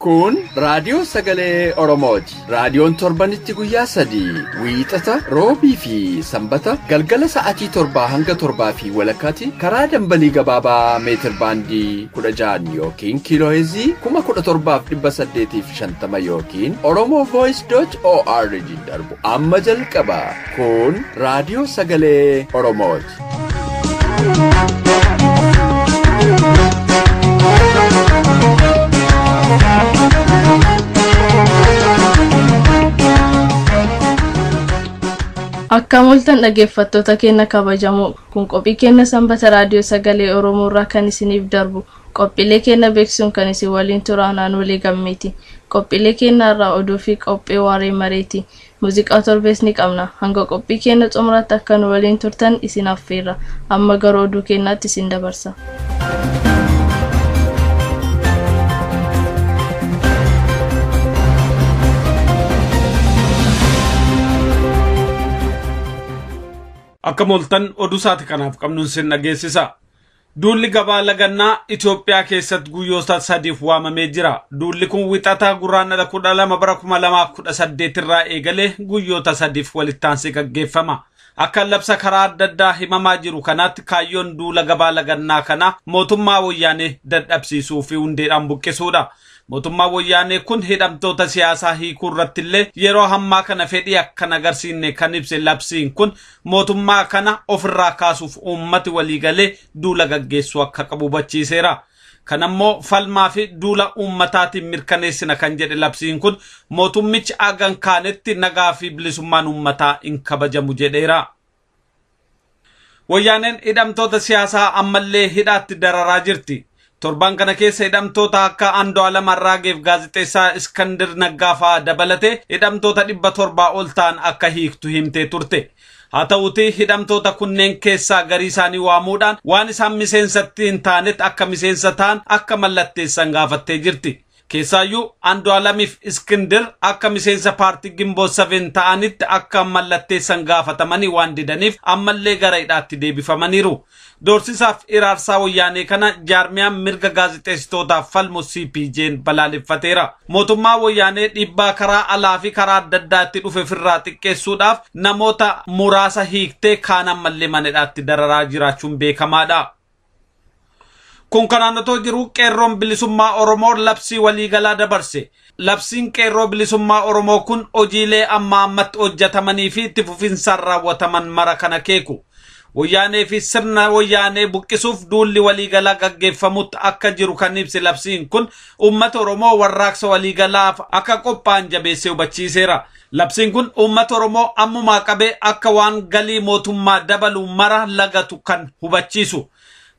Kun raadiyoo sagalee Oromooti. Raadiyoon torbanitti guyyaa sadii wiixata roobii fi sanbata galgala sa'aatii torbaa hanga torbaa fi walakkaatti karaa dambalii gabaabaa meetir baandii kudha ja'an yookiin kiiloo heezii kuma kudha torbaaf dhibba saddeetiif shantama yookiin Oromoo Voice dot ORG darbu. Amma jalqaba kun raadiyoo sagalee Oromooti. Akka moltan dhaggeeffattoota keenya kabajamoo kun qophii keenya sanbata raadiyoo sagalee Oromoo irraa kan isiniif darbu Qophiilee keenna beeksisuun kan isin waliin turu an Aanolee Gammeeti. Qophiilee keenna irraa oduu fi qophee waaree mareeti. Muuziqaa torbees ni qabna. Hanga qophii keenna xumuraatti akka nu waliin turtan isin affeerra. Amma gara oduu keennaatti isin dabarsa. Akka mooltan oduu saati kanaaf qabnuun sin dhageessisa. Duulli gabaa lagannaa Itoophiyaa keessatti guyyoota sadiif waamamee jira. Duulli kun wixata Gurraandhala 12 bara 2018 irraa eegalee guyyoota sadiif walittaansee gaggeeffama. Akka labsa karaa adda addaa himamaa jiru kanaatti kaayyoon duula gabaa lagannaa kanaa mootummaa Woyyaanee dadhabsiisuu fi hundeedhaan buqqisuudha. Mootummaan Woyyaanee kun hidhamtoota siyaasaa hiikuu irratti illee yeroo hammaa kana fedhii akka hin agarsiisne kan ibse labsiin kun Mootummaa kana ofirraa kaasuuf uummati waliigalee duula gaggeessuu akka qabu hubachiiseera. Kanammoo falmaa fi duula uummataatiin mirkaneessina kan jedhe labsiin kun mootummichi haga hin kaanetti nagaa fi bilisummaan uummataa hin kabajamu jedheera. Wayyaaneen hidhamtoota siyaasaa ammallee hidhaatti dararaa jirti. Torban kana keessa hidhamtoota akka Andu'aalam Arraageef gaazexeessaa Iskandir Naggaa fa'aa dabalatee hidhamtoota dhibba torbaa ol ta'an akka hiiktu himtee turte. Haa ta'uutii hidhamtoota kunneen keessaa garii isaanii waamuudhaan waan isaan miseensatti hin taanet akka miseensa ta'an akka mallatteessan gaafattee jirti. Keessaayyuu Andu'aalamiif Iskindir akka miseensa paartii Ginboot Seven ta'anitti akka mallatteessan gaafatamanii waan didaniif ammallee gara hidhaatti deebifamaniiru. Doorsisaaf iraarsaa Wayyaanee kana jaarmiyaan mirga gaazexeessitootaaf falmu CPJ'n balaaleffateera. Mootummaa Wayyaanee dhiibbaa karaa alaa fi karaa adda addaa itti dhufe firraa xiqqeessuudhaaf namoota muraasa hiiktee kaan ammallee mana hidhaatti dararaa jiraachuun beekamaadha. Kun kanaan otoo jiruu qeerroon bilisummaa Oromoo labsii waliigalaa dabarse. Labsiin qeerroo bilisummaa Oromoo kun hojiilee amma ammatti hojjetamanii fi itti fufinsaan raawwataman mara kana keeku. Wayyaanee fi sirna wayyaanee buqqisuuf duulli waliigalaa gaggeeffamutti akka jiru kan ibse labsiin kun uummata Oromoo warraaqsa waliigalaaf akka qophaa'an jabeessee hubachiiseera. Labsiin kun uummata Oromoo ammumaa qabee akka waan galii mootummaa dabalu mara lagatu kan hubachiisu.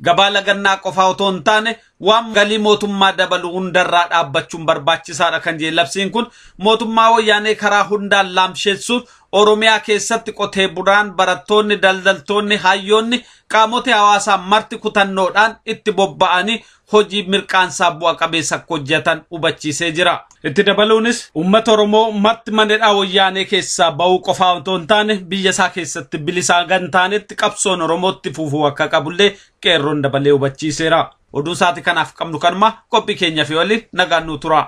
Gabaa lagannaa qofaa otoo hin taane waan galii mootummaa dabalu hundarraa dhaabbachuun barbaachisaadha kan jedhe labsiin kun mootummaa wayyaanee karaa hundaan laamsheessuuf Oromiyaa keessatti qotee bulaan, barattoonni, daldaltoonni, hayyoonni, qaamoti hawaasaa marti kutannoodhaan itti bobba'anii hojii mirqaansaa bu'a qabeessa akka hojjetan hubachiisee jira. Itti dabaluunis uummata Oromoo marti manedhaa wayyaanee keessaa ba'uu qofaa otoo hin taane biyya isaa keessatti bilisaa hanga hin taanetti qabsoon Oromootti fufuu akka qabullee qeerroon dabalee hubachiiseera. Oduu sa'aatii kanaaf qabnu kanuma qophii keenyaaf yoo waliin nagaan nuu tura.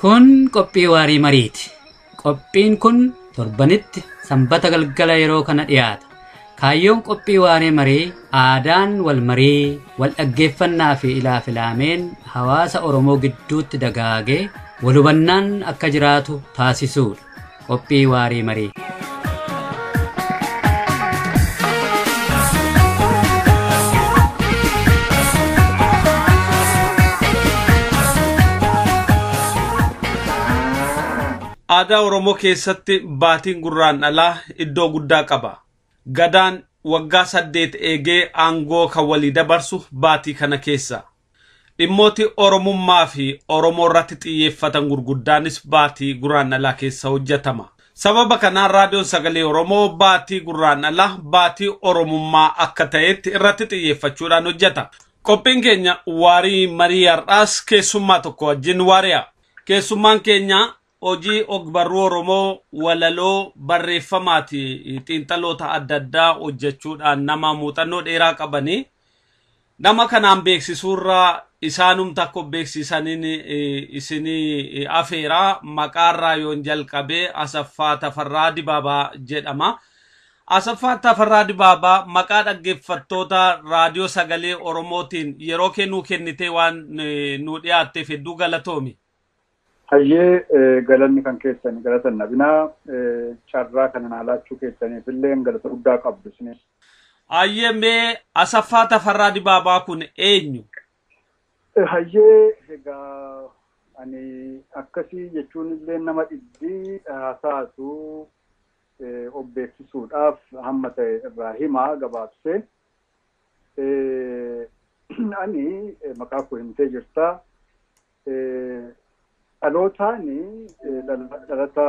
Kun qophii waarii mariiti. Qophiin kun torbanitti sanbata galgala yeroo kana dhiyaata. Kaayyoon qophii waaree marii aadaan wal marii, wal dhaggeeffannaa fi ilaa filaameen hawaasa Oromoo gidduutti dagaagee wal hubannaan akka jiraatu taasisuudha. Qophii Waaree Maree. Aadaa Oromoo keessatti baatiin gurraan dhalaa iddoo guddaa qaba. Gadaan waggaa saddeet eegee aangoo kan walii dabarsu baatii kana keessa. Dhimmooti Oromummaa fi Oromoo irratti xiyyeeffatan gurguddaanis baatii Guraandhalaa keessa hojjatama. Sababa kanaan Raadiyoon Sagalee Oromoo baatii Gurraandhalaa baatii Oromummaa akka ta'eetti irratti xiyyeeffachuudhaan hojjata. Qophiin keenya waarii marii har'aas keessummaa tokko wajjin waari'a. Keessummaan keenya Hojii ogbarruu Oromoo walaloo barreeffamaati xiinxaloota adda addaa hojjechuudhaan nama muuxannoo dheeraa qabani. Nama kanaan beeksisuurra isaanumta akka of beeksiisaniin isinii afeera. Maqaarraa yoon jalqabe Asaffaa Tafarraa Dibaabaa jedhama. Asaffaa Tafarraa Dibaabaa maqaa dhaggeeffattoota raadiyoo sagalee Oromootiin yeroo kee nuu kennitee waan nuu dhiyaatteef hedduu galatoomi. Hayyee galanni kan keessan galata hin dhabinaa carraa kana naa laachuu keessaniif illee galata guddaa qabdu isinis. Hayyee mee Asaffaa Tafarraa Dibaabaa kun eenyu? Hayyee egaa ani akkasii jechuun illee nama dhibbi haasa'atu of beeksisuudhaaf hamma ta'e irraa hima gabaabsee. Ani maqaa koo himtee jirta. Dhalootaan dhalata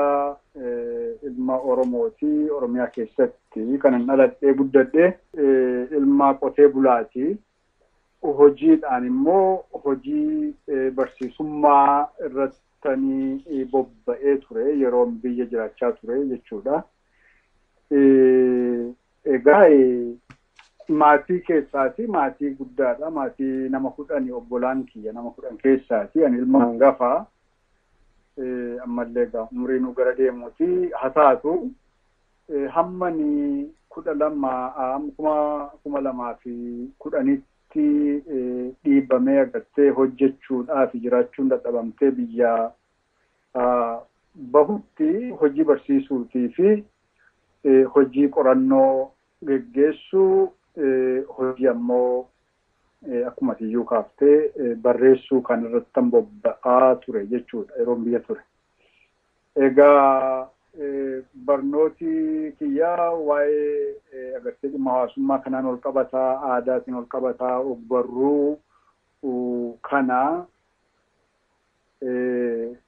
ilma Oromooti. Oromiyaa keessatti kanan dhaladhee guddadhe ilma qotee bulaati. Hojiidhaan immoo hojii barsiisummaa irrattanii bobba'ee ture yeroon biyya jiraachaa ture jechuudha. Egaa maatii keessaati maatii guddaadha maatii nama kudhani obbolaan kiyya nama kudhan keessaati ani ilma hangafa ammallee egaa umriinuu gara deemuuti ha taatu hammani kudha lama kuma kuma lamaa fi kudhanitti dhiibamee agartee hojjechuudhaafi jiraachuun dadhabamtee biyya bahutti hojii barsiisuutii fi hojii qorannoo geggeessuu hojii ammoo akkuma tiyyuu kaaftee barreessuu kan irratti bobba'aa ture jechuudha yeroon biyya ture. Egaa barnooti kiyyaa waa'ee agartee dhimma hawaasummaa kanaan ol qabataa aadaatiin ol qabataa ogbarruu kana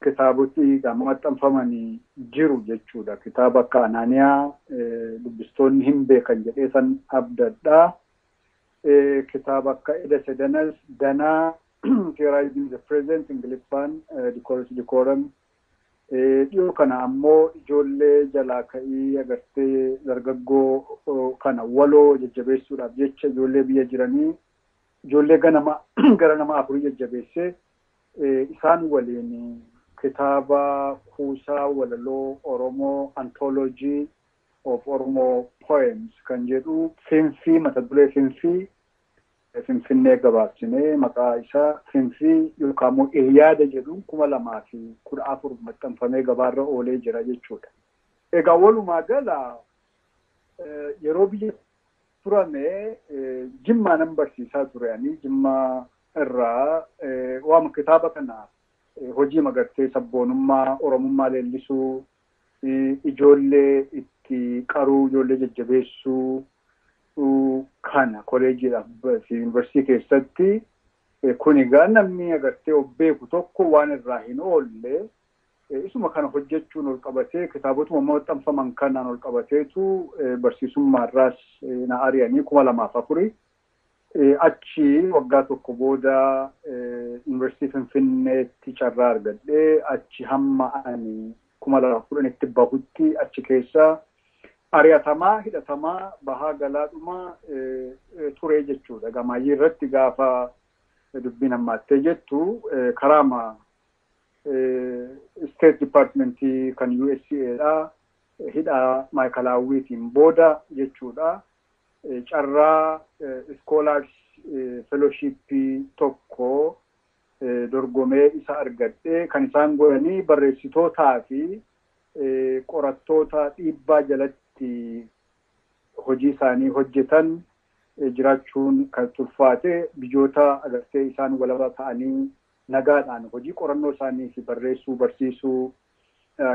kitaaboti egaa maxxanfamani jiru jechuudha. Kitaaba akka Anaaniyaa dubbistoonni hin beekan jedhee san abdadha. Kitaaba akka Eda Sedanas Danaa Theorizing the Present Ingiliffaan Dikoorus Dikooram dhiyoo kana ammoo ijoollee jalaa ka'ii agartee dargaggoo kana waloo jajjabeessuudhaaf jecha ijoollee biyya jiranii ijoollee ganama gara nama afurii jajjabeessee isaan waliin kitaaba kuusaa walaloo Oromoo Anthology of Oromo Poems kan jedhu Finfii mata duree Finfii, Finfinnee gabaabsinee maqaa isaa Finfii yookaan immoo Iliyaada jedhuun 2014 maxxanfamee gabaarra oolee jira jechuudha. Egaa walumaa gala yeroo biyya turame jimmaa nan barsiisaa ture ani jimmaa irraa waama kitaaba kana hojii magartee sabboonummaa oromummaa leellisuu ijoollee itti qaruu ijoollee jajjabeessuu kana koleejiidhaaf fi yuunivarsiitii keessatti kuni gaa namni agartee of beeku tokko waan irraa hin oolle Isuma kana hojjechuun ol qabatee kitaabotuma amma maxxanfaman kanaan ol qabateetu barsiisummaarraas na ari'anii kuma lamaaf afuri. Achi waggaa tokko booda Yuunivarsiitii Finfinneetti carraa argadhee achi hamma ani kuma lamaaf kudhanitti bahutti achi keessa ari'atamaa hidhatamaa bahaa galaadhuma turee jechuudha. Gamaayyii irratti gaafa dubbiin hammaattee jettu karaama Isteet Dipaartimentii kan USA dha. Hidhaa Maayikalaawwiitiin booda jechuudha. Carraa iskoolaars felooshiippii tokko dorgomee isa argadhe. Kan isaan godhanii barreessitootaa fi qorattoota dhiibbaa jalatti hojii isaanii hojjetan jiraachuun kan itti ulfaate biyyoota agartee isaan walaba ta'anii nagaadhaan hojii qorannoo isaanii fi barreessuu, barsiisuu,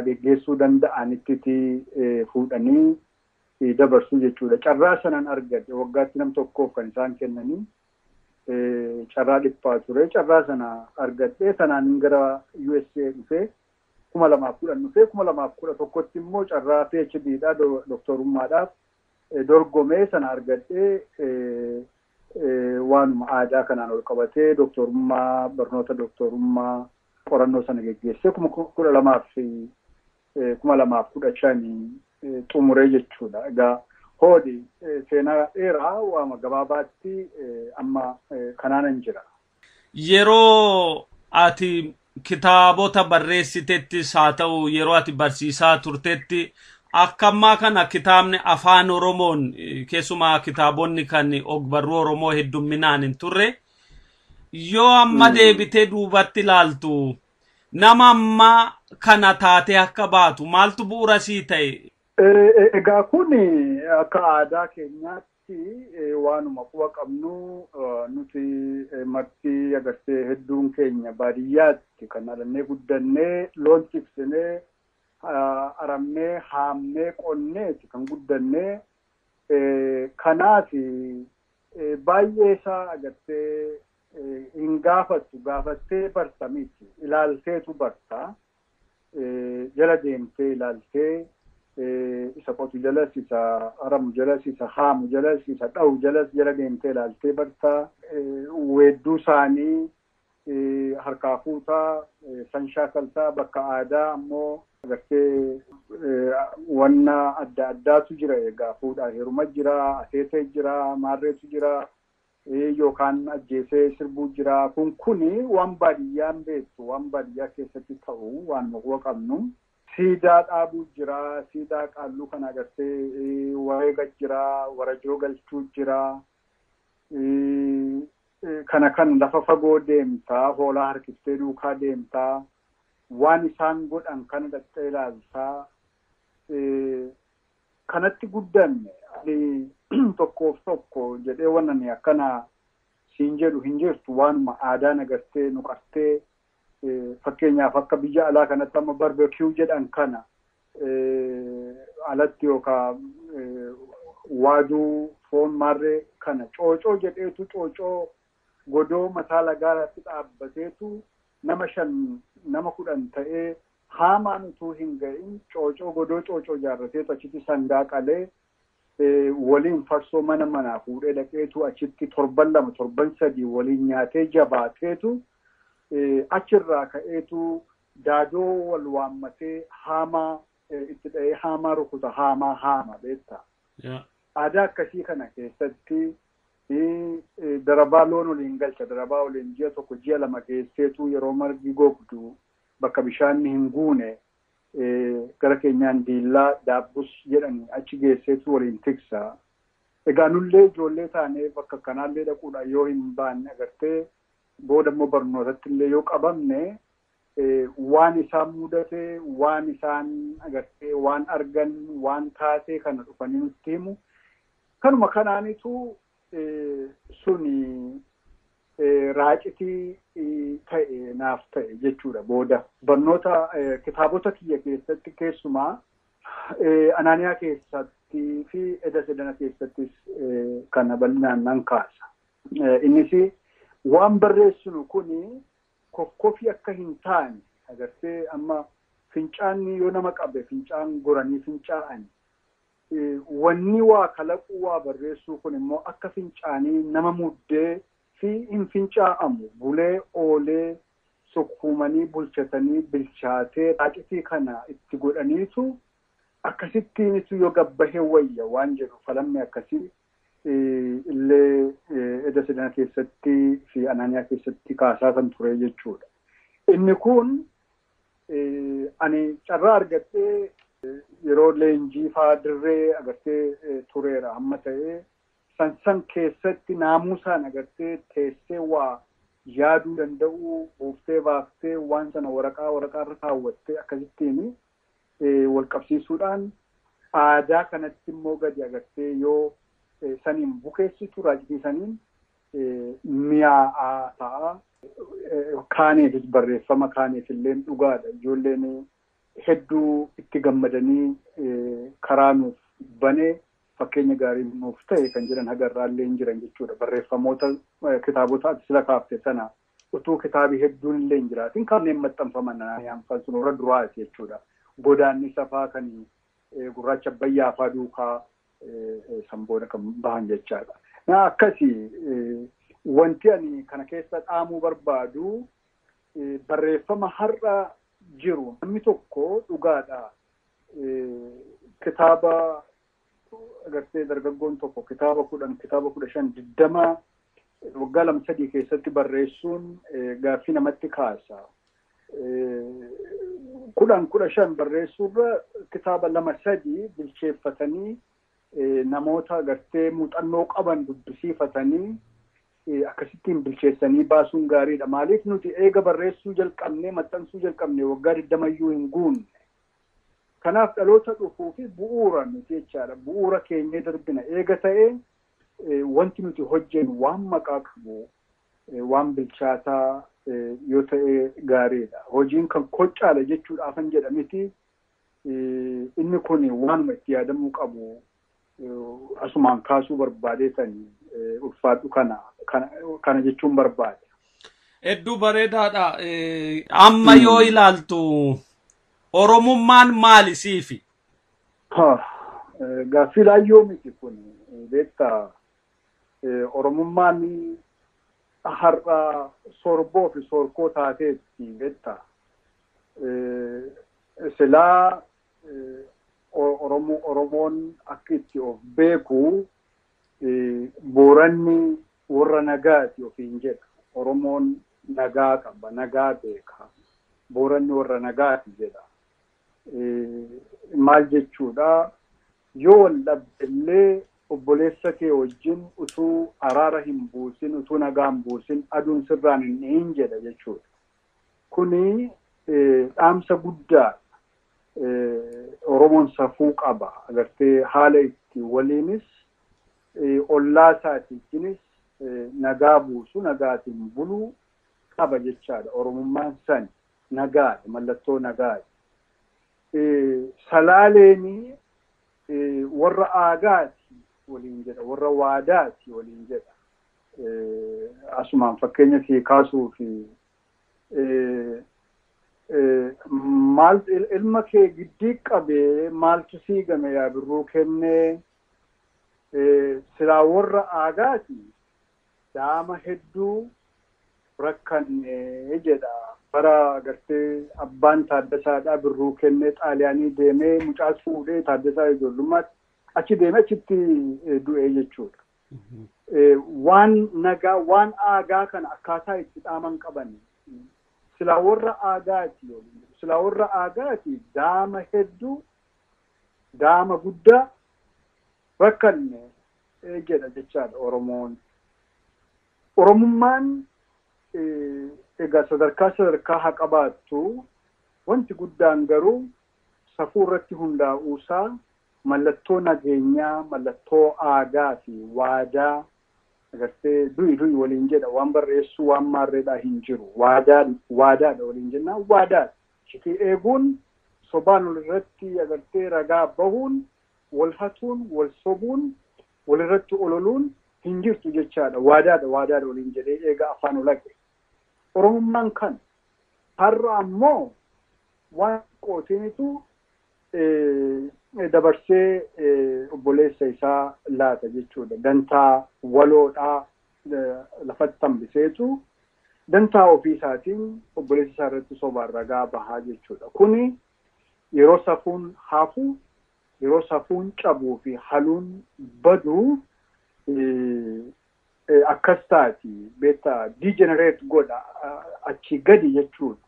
geggeessuu danda'anittiti fuudhanii dabarsu jechuudha. Carraa sanan argadhe waggaatti nam tokkoof kan isaan kennanii carraa dhiphaa ture. Carraa sana argadhee tanaanin gara USA dhufee kuma lamaaf kudhan dhufee kuma lamaaf kudha tokkotti immoo carraa PhD dha doktorummaadhaaf dorgomee sana argadhee Waanuma aadaa kanaan walqabatee doktoorummaa, barnoota doktoorummaa, qorannoo sana geggeessee 2015 xumure jechuudha. Egaa hoodhi seenaa dheeraa waama gabaabaatti amma kanaanan jira. Yeroo ati kitaabota barreessitettis haa ta'u yeroo ati barsiisaa turtetti akka ammaa kana kitaabni afaan Oromoon keessumaa kitaabonni kan ogbarruu Oromoo heddumminaan hin turre yoo amma deebitee duubatti ilaaltu nama ammaa kana taatee akka baatu maaltu bu'uura sii ta'e? Egaa kun akka aadaa keenyaatti Nuti waanuma quba qabnu nuti marti agartee hedduun keenya baadiyyaatti kan dhalannee guddannee loon tiksinee aramnee haamnee qonneeti kan guddannee kanaafi baay'ee isaa agartee hin gaafattu gaafattee barta miti ilaalteetu barta jala deemtee ilaaltee isa qotu jalas isa aramu jalas isa haamu jalas isa dhahu jalas jala deemtee ilaaltee bartaa weedduu isaanii harkaa fuutaa san shaakaltaa bakka aadaa ammoo agartee wanna adda addaatu jira egaa fuudhaa heeruma jira ateetee jira maarreetu jira Ee yookaan ajjeesee sirbuu jira kun kuni waan baadiyyaa hin beektu waan baadiyyaa keessatti ta'u waanuma quba qabnu siidaa dhaabuu jira siidaa qaalluu kana agartee wareega jira warajoo galchuu jira kana kan lafa fagoo deemta hoolaa harkiftee duukaa deemta waan isaan godhan kana dhaqxee ilaalta kanatti guddanne ani tokkoof tokko jedhee wan ani akkana siin jedhu hin jirtu waanuma aadaan agartee nu qartee fakkeenyaaf akka biyya alaa kanatti amma barbecue jedhan kana alatti yookaa waaduu foon maarree kana coocoo jedheetu coocoo godoo mataa lagaarratti dhaabbateetu nama shan nama kudhan ta'ee Haamaan utuu hin ga'in coocoo godoo coocoo ijaarrateetu achitti sangaa qalee waliin farsoo mana manaa fuudhee dhaqeetu achitti torban lama torban sadii waliin nyaatee jabaateetu achirraa ka'eetu daadoo wal waammatee haamaa itti dha'ee haamaa rukuta haamaa haama beektaa. Aadaa akkasii kana keessatti darabaa loon waliin galcha darabaa waliin ji'a tokko ji'a lama geesseetu yeroo margi gogdu bakka bishaanni hin guune gara keenyaan diillaa, daabbus jedhani achi geesseetu waliin tiksa. Egaa nullee ijoollee taanee bakka akkanaallee dhaquudhaan yoo hin baanne agartee booda immoo barnootattillee yoo qabamne waan isaan mudate, waan isaan agartee waan argan, waan taatee kana dhufanii nutti himu. Kanuma kanaanitu suni raacitii ta'e naaf ta'e jechuudha booda barnoota kitaabota kiyya keessatti keessumaa anaaniyaa keessatti fi eda sedana keessattis kana bal'inaan nan kaasa. Innis waan barreessinu kun kokkofii akka hin taane agartee amma fincaanni yoo nama qabe fincaan goranii fincaa'an Wanni waa kalaquu, waa barreessuu kun immoo akka fincaanii nama muddee fi hin fincaa'amu. Bulee oolee sukkuumanii bulchatanii bilchaatee raacitii kana itti godhaniitu akkasittiinitu yoo gad bahe wayya waan jedhu falammi akkasii illee eda sidana keessatti fi anaaniyaa keessatti kaasaatan ture jechuudha. Inni kun Ani carraa argadhee yeroo leenjii faa dirree agartee tureera amma ta'ee san san keessatti naamusaan agartee teessee waa yaaduu danda'uu buuftee baaftee waan sana waraqaa waraqaa irra kaawwattee akkasittiin wal qabsiisuudhaan aadaa kanatti immoo gadi agartee yoo saniin bukeessitu raacitii saniin miyaa'aa ta'a. Kaaniifis barreeffama kaaniif illee dhugaadha. Ijoolleen hedduu itti gammadanii karaa nuuf bane fakkeenya gaarii nuuf ta'e kan jedhan haga irraa illee hin jiran jechuudha. Barreeffamoota kitaabota ati sila kaafte sana utuu kitaabii hedduun illee hin jiraatin kanneen maxxanfaman kan sun warra duraati jechuudha. Godaannisa faa kan gurraacha abbayyaa faa duukaa san booda kan bahan jechaadha. Na akkasi wanti ani kana keessa dhaamuu barbaadu barreeffama har'a jiru namni tokko dhugaadha kitaaba agartee dargaggoon tokko kitaaba kudhan kitaaba kudha shan digdama waggaa lama sadii keessatti barreessuun gaaffii namatti kaasa. kudhan kudha shan barreessuurra kitaaba lama sadii bilcheeffatanii namoota agartee muuxannoo qaban dubbisiifatanii akkasittiin bilcheessanii baasuun gaariidha. Maaliif nuti eega barreessuu jalqabnee maxxansuu jalqabnee waggaa digdamayyuu hin guunne. Kanaaf dhaloota dhufuu fi bu'uura nuti jechaadha. Bu'uura keenyee darbina eega ta'ee wanti nuti hojjennu waan maqaa qabu waan bilchaataa yoo ta'e gaariidha. Hojiin kan kochaadha jechuudhaafan jedha miti. Inni kun waanuma itti yaadamuu qabu asumaan kaasuu barbaadeetan ulfaadhu kana kana jechuun barbaade. Hedduu bareedaadha. Amma yoo ilaaltu Oromummaan maali siifi? Gaaffii laayyoo miti kun beektaa Oromummaan har'a sorboo fi sorkoo taateetti betta. Silaa Oromoon akka itti of beeku Booranni warra nagaati ofiin jedha. Oromoon nagaa qaba, nagaa beeka. Booranni warra nagaati jedha. Maal jechuudha? Yoo wal dhabde illee obboleessa kee wajjin utuu araara hin buusin, utuu nagaa hin buusin aduun sirraan hin dhihin jedha jechuudha. Kuni dhaamsa guddaadha. Oromoon safuu qaba. Agartee haala itti waliinis ollaa isaati wajjinis nagaa buusu, nagaatiin bulu qaba jechaadha. Oromummaan sani. Nagaadha. Mallattoo nagaati. Salaaleen warra aadaati waliin jedha, warra waadaati waliin jedha. Asumaan fakkeenya sii kaasuuf maaltu ilma kee giddii qabee maaltu sii game yaa birruu kennee silaa warra aadaati daa'ama hedduu rakkanne jedha. Bara gartee abbaan Taaddasaa dha Birruu kenne Xaaliyaanii deemee mucaas fuudhee Taaddasaa ijoollummaatti achi deemee achitti du'ee jechuudha. Waan nagaa waan aagaa kana akkaataa itti dhaaman qaban silaa warra aagaati silaa warra aagaati daama hedduu daama guddaa rakkanne jedha jechaadha Oromoon. Oromummaan egaa sadarkaa sadarkaa haa qabaattu, wanti guddaan garuu safuu irratti hundaa'uusaa mallattoo nageenyaa, mallattoo aadaafi waadaa agartee du'i du'i waliin jedha waan barreessuu waan maarreedhaa hin jiru. Waadaan waadaadha waliin jennaan waadaadha. Iccitii eeguun, sobaan olirratti agartee ragaa bahuun Wal hatuun, wal sobuun, wal irratti ololuun hin jirtu jechaadha. Waadaadha, waadaadha waliin jedhee eega afaan olaqe. Oromummaan kana. Har'a ammoo waan xiqqootiinitu dabarsee obboleessa isaa laata jechuudha. Dantaa waloodhaa lafatti hambiseetu dantaa ofii isaatiin obboleessa isaa irratti sobaan ragaa baha jechuudha. Kuni Yeroo safuun hafu, yeroo safuun cabuu fi haluun badu akkas taati. Beekta degenerate godha achii gadi jechuudha.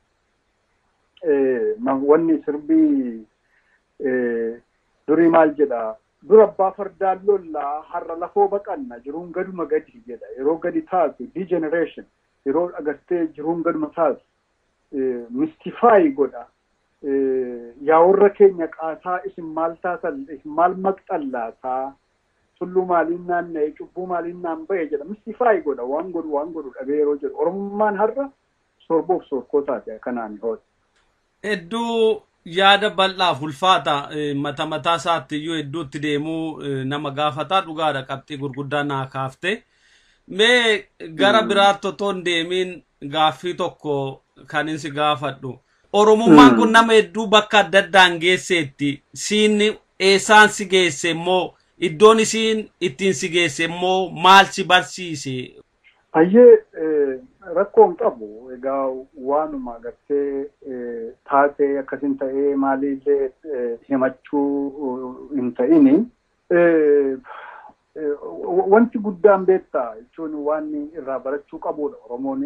Wanni sirbii durii maal jedha? Dur abbaa fardaan lolla har'a lafoo baqanna jiruun gaduma gadi jedha. Yeroo gadi taatu degeneration yeroo agartee jiruun gaduma taatu mistifaayi godha. Yaa warra keenya qaasaa isin maal taatan isin maal maqxan laataa? Tulluu maaliin naanna'e cubbuu maaliin naan bahe jedha mistifaayi godha waan godhu waan godhu dhabee yeroo jedhu Oromummaan har'a sorboof soorkoo taate akanaani hoodha. Hedduu yaada bal'aaf ulfaata mata mataa isaatti iyyuu hedduutti deemuu nama gaafata dhugaadha qabxii gurguddaa naa kaafte mee gara biraatti otoo hin deemiin gaaffii tokko kan insi gaafadhu oromummaan kun nama hedduu bakka adda addaan geesseetti siin eessaan si geesse immoo iddoon isiin ittiin si geesse immoo maal si barsiise Hayyee rakkoo hin qabu egaa waanuma gartee taatee akkasin ta'ee maaliillee himachuu hin ta'ini. Wanti guddaan beekta jechuun waan irraa barachuu qabuudha Oromoon.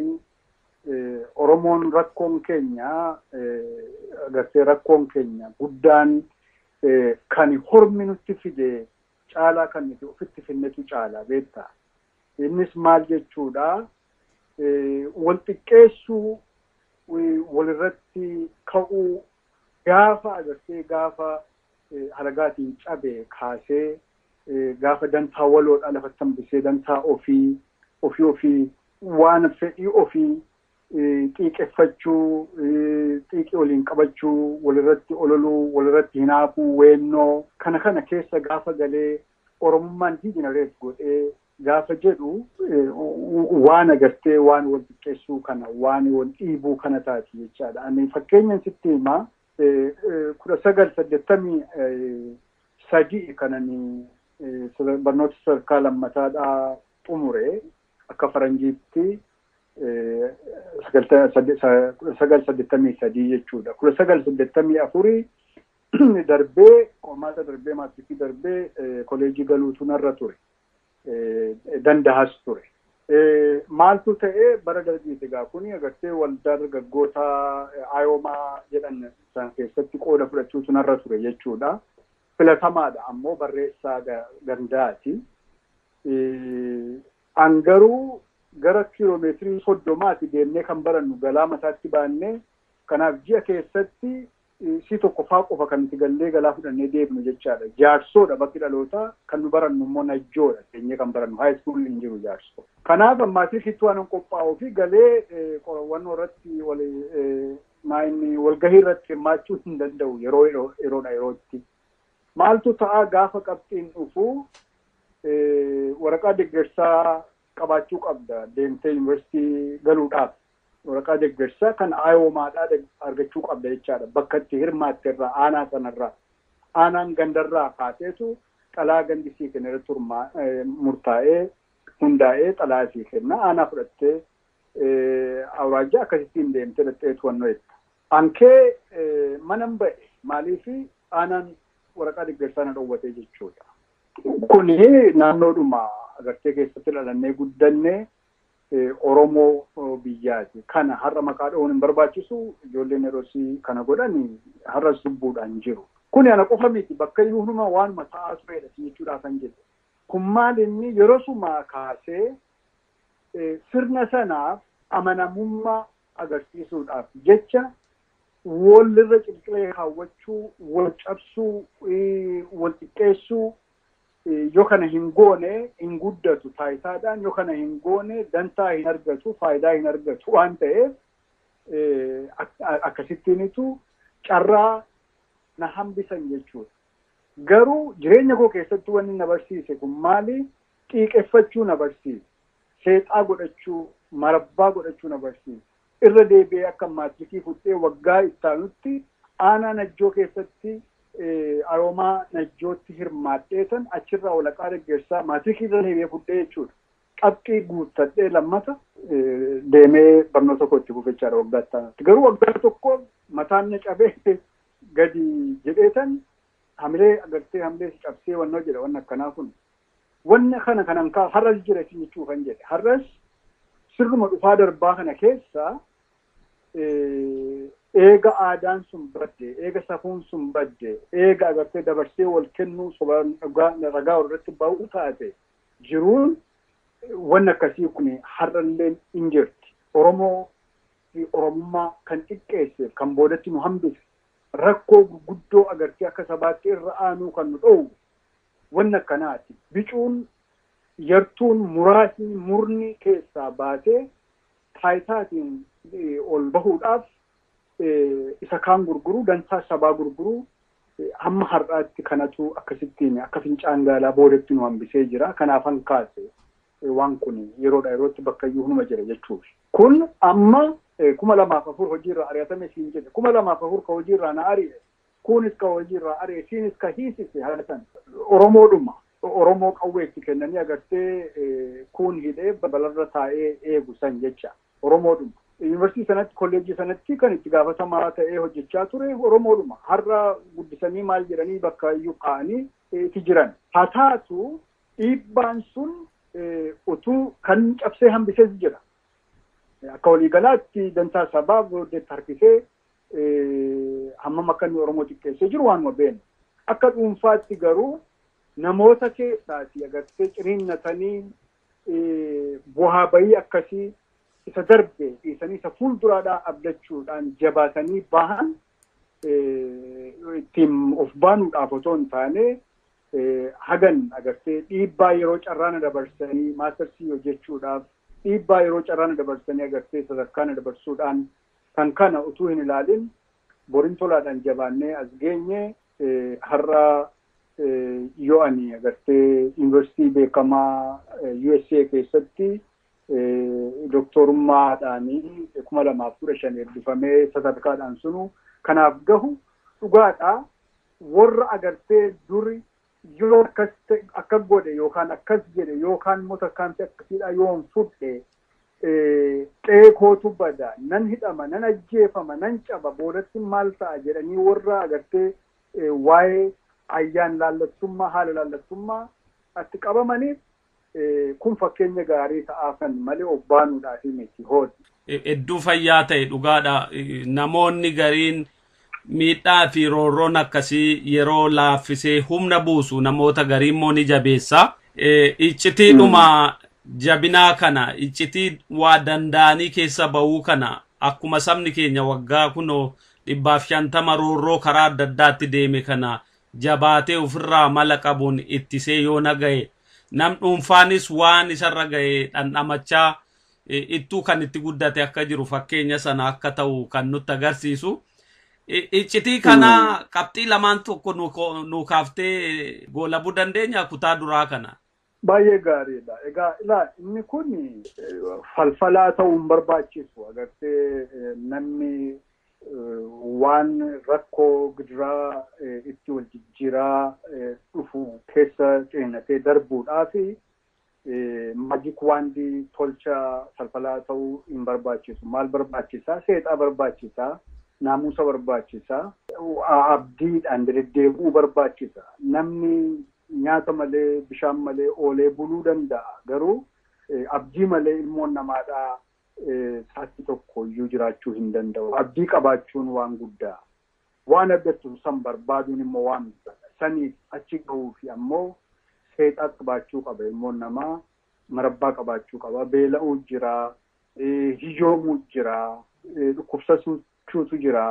Oromoon rakkoon keenya gartee rakkoon keenya guddaan kan hormi nutti fide caalaa kan nuti ofitti finnetu caala beekta. Innis maal jechuudha? Wal xiqqeessuu, walirratti ka'uu gaafa agartee gaafa halagaatiin cabe kaasee gaafa dantaa waloodhaa lafatti hambisee dantaa ofii, ofii ofii waan fedhii ofii xiiqeffachuu, xiiqii waliin qabachuu, walirratti ololuu, walirratti hinaafuu, weennoo kana kana keessa gaafa galee Oromummaan degenerate godhee gaafa jedhu waan agartee waan wal xiqqeessuu kana waan wal dhiibuu kana taati jechaadha. Ani fakkeenyan sitti hima 1983 kan ani barnoota sadarkaa lammataadhaa xumure akka faranjiitti 1983 jechuudha. 1984 darbee qormaata darbee maatirikii darbee koleejii galuutu narra ture. Dandahas ture. Maaltu ta'e bara dargiiti egaa kuni agartee waldaa dargaggoota ayoomaa jedhan sana keessatti qooda fudhachuutu narra ture jechuudha. Filatamaadha ammoo barreessaa gandaati. An garuu gara kiiloomeetirii soddomaati deemnee kan barannu galaa mataatti baannee kanaaf ji'a keessatti Isii tokkoffaa qofa kan nuti gallee galaa fudhannee deebinu jechaadha. Jaarsoodha bakki dhalootaa, kan nu barannu immoo Najjoodha teenyee kan barannu. High school hin jiru Jaarsoo. Kanaaf maatirikittii waanan qophaa'uu fi galee qorawwannoo irratti maalinni walgahii irratti hirmaachuu hin danda'u yeroo yeroodha yerootti. Maaltu ta'a gaafa qabxiin dhufu waraqaa deggersaa qabaachuu qabda deemtee yuunivarsiitii galuudhaaf. Waraqaa deggersaa kan IOMAdhaa argachuu qabda jechaadha. Bakka itti hirmaatte irraa, aanaa sana irraa. Aanaan ganda irraa kaaseetu xalayaa gandi sii kenne irratti murtaa'ee, hundaa'ee xalayaa sii kenna. Aanaa fudhattee awuraajjaa akkasittiin deemtee dhaqxee to'annoo eegda. An kee manan ba'e maaliif aanaan waraqaa deggersaa na dhowwate jechuudha. Kuni naannoodhuma agartee keessatti dhalannee guddanne Oromoo biyyaati. Kana har'a maqaa dha'uun hin barbaachisu. Ijoolleen yerosii kana godhan har'as lubbuudhaan jiru. Kuni ana qofa miti bakka iyyuu hunuma waanuma ta'aa tureedha si jechuudhaafan jedhe. Kun maal inni yerosumaa kaasee sirna sanaaf amanamummaa agarsiisuudhaaf jecha wal irra cirqilee kaawwachuu, wal cabsuu, wal xiqqeessuu, Yoo kana hin goone hin guddatu taayitaadhaan, yoo kana hin goone dantaa hin argatu, faayidaa hin argatu waan ta'eef akkasittiinitu carraa na hambisan jechuudha. Garuu jireenya koo keessatti wanni na barsiise kun maali? Xiiqeffachuu na barsiise. Seexaa godhachuu, marabbaa godhachuu na barsiise. Irra deebi'ee akka maajikii fudhee waggaa ittaanutti aanaa Najjoo keessatti Aroomaa Najjootti hirmaadheetan achirraa walaqaa deggersaa maatirikii irra deebi'ee fudhee jechuudha. Qabxii guuttadhee lammata deemee barnoota koo itti fufe jechaadha waggaa ittaanutti. Garuu waggaa tokko mataan na cabee gadi jedheetan hamilee agartee hamilee si cabsee wannoo jedha wanni akkanaa kun. Wanni kana kanan kaa har'as jira isin jechuu kan jedhe. Har'as sirnuma dhufaa darbaa kana keessa eega aadaan sun badde, eega safuun sun badde, eega agartee dabarsee wal kennuu sobaan ragaa irratti ba'uu taate jiruun wanni akkasii kun har'alleen hin jirti. Oromoo fi Oromummaa kan xiqqeesseef kan boodatti nu hambise rakkoo gurguddoo agartee akka sabaatti irra aanuu kan nu dhoowwu wanni akkanaati. Bicuun, yartuun, muraasni, murni keessaa baasee taayitaatiin ol bahuudhaaf isa kaan gurguruu, dantaa sabaa gurguruu hamma har'aatti kanatu akkasittiin akka fincaan gaalaa boodatti nu hambisee jira. Kanaafan kaase waan kun yeroodhaa yerootti bakkayyuu hunuma jira jechuufi. Kun amma 2004 hojiirraa ari'atame siin jedhe. 2004 ka hojiirraa na ari'e Kuunis ka hojii irraa ari'e, siinis ka hiisise haga san. Oromoodhuma, Oromoo qawwee itti kennanii agartee kuun hidhee balalarra taa'ee eegu san jecha. Oromoodhuma. Yunivarsiitii sanatti, kolleejjii sanatti kan itti gaafatamaa ta'ee hojjachaa ture Oromoodhuma. Har'a guddisanii maal jedhanii bakka iyyuu kaa'anii ti jiran. Haa taatu dhiibbaan sun utuu. Kan cabsee hambises jira. Akka waliigalaatti dantaa sabaaf deetti harkisee hammam akka inni Oromoo xiqqeessee jiru waanuma beeknu. Akka dhuunfaatti garuu namoota keessaati agartee ciniinnatanii bu'aa bahii akkasii isa darbe dhiisanii isa fuulduraadhaa abdachuudhaan jabaatanii bahan ittiin of baanuudhaaf otoo hin taane hagan agartee dhiibbaa yeroo carraana dabarsanii maastarsii hojjechuudhaaf dhiibbaa yeroo carraana dabarsanii agartee sadarkaana dabarsuudhaan Kan kana utuu hin ilaalin borin tolaadhaan jabaannee as geenye har'a yoo ani agartee yuunivarsiitii beekamaa USA keessatti doktorummaadhaan 2015 eebbifamee sadarkaadhaan sunu kanaaf gahu dhugaadha warra agartee duri Yoon akkas ta'e, akkas godhe yookaan akkas jedhe yookaan immoo tarkaanfii akkasiidhaa yoon fudhe qe'ee kootu bada, nan hidhama, nan ajjeefama, nan caba, boodattin maal ta'a jedhanii warra agartee waa'ee ayyaan laallattummaa, haala laallattummaa tti qabamaniif Kun fakkeenya gaarii ta'aafan malee of baanuudhaaf miti. Hod. hedduu fayyaa ta'e dhugaadha. Namoonni gariin miidhaa fi roorroon akkasii yeroo laaffisee humna buusu namoota garii immoo ni jabeessa. Iccitiidhuma jabinaa kana iccitii waa danda'anii keessa ba'uu kana akkuma sabni keenya waggaa kunoo dhibbaaf shantama roorroo karaa adda addaatti deeme kana jabaatee ofirraa mala qabuun ittisee yoo na gahe nam dhuunfaanis waan isarra gahe dhandhamachaa ittuu kan itti guddate akka jiru fakkeenya sana akka ta'u kan nutti agarsiisu. Iccitii kana qabxii lamaan tokko nuu kaaftee goolabuu dandeenya kutaa duraa kana. Baay'ee gaariidha. Egaa ilaa inni kun falfalaa ta'uu hin barbaachisu. Agartee namni waan rakkoo gidiraa itti wal jijjiiraa dhufu keessa ceenatee darbuudhaaf maajik waandii tolcha falfalaa ta'uu hin barbaachisu. Maal barbaachisaa? Seexaa barbaachisaa. Naamusa barbaachisaa. Abdiidhaan deddeebi'uu barbaachisa. Namni Nyaata malee, bishaan malee oolee buluu danda'a. Garuu abdii malee ilmoon namaadhaa sa'atii tokko iyyuu jiraachuu hin danda'u. Abdii qabaachuun waan guddaa. Waan abdattu san barbaaduun immoo waan biraadha. Saniif achi gahuufi ammoo seexaa qabaachuu qaba ilmoon namaa, marabbaa qabaachuu qaba. Beela'uu jira, hiyyoomuu jira, dhukkubsachuutu jira,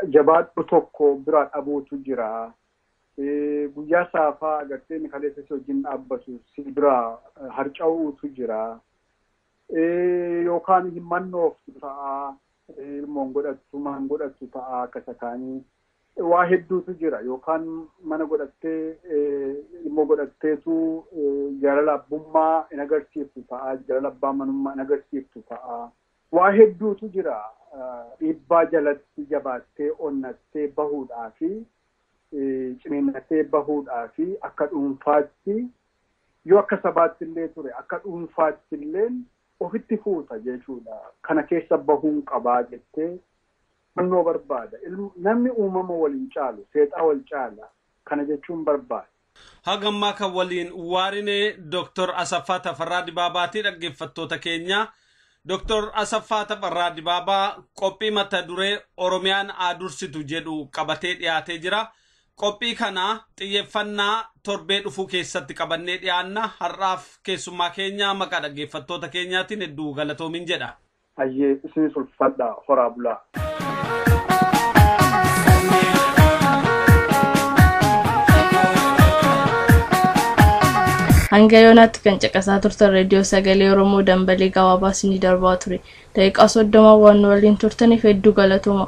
jabaadhu tokko biraa dhabuutu jira. Guyyaa saafaa agartee inni kaleessa si wajjin dhaabbatu si biraa harca'uutu jira. Yookaan hin mannooftu ta'a. Ilmoon godhattu maan godhattu ta'a akka isa kaanii. Waa hedduutu jira. Yookaan mana godhattee ilmoo godhatteetu jaalala abbummaa hin agarsiiftu ta'a. Jaalala abbaa manummaa hin agarsiiftu ta'a. Waa hedduutu jira. Dhiibbaa jalatti jabaattee onnattee bahuudhaa fi ciniinnatee bahuudhaa fi akka dhuunfaatti yoo akka sabaatti illee ture akka dhuunfaatti illee ofitti fuuta jechuudha. Kana keessa bahuun qabaa jettee hubannoo barbaada. Namni uumama wal hin caalu, seexaa wal caala. Kana jechuun barbaada. Haga ammaa kan waliin waarine Dr. Asaffaa Tafarraa Dibaabaati dhaggeeffattoota keenya. Dr. Asaffaa Tafarraa Dibaabaa qophii mata duree Oromiyaan haa dursitu jedhu qabatee dhiyaatee jira. Qophii kana xiyyeeffannaa torbee dhufuu keessatti qabannee dhiyaanna. Har'aaf keessummaa keenya maqaa dhaggeeffattoota keenyaatiin hedduu galatoomiin jedha. Hayyee isinis ulfaadha horaa bulaa. Hanga yoonaatti kan caqasaa turtan reediyoo sagalee Oromoo dambalee gabaabaa isinii darbaa ture. Daqiiqaa soddoma waan nu waliin turtaniif hedduu galatooma.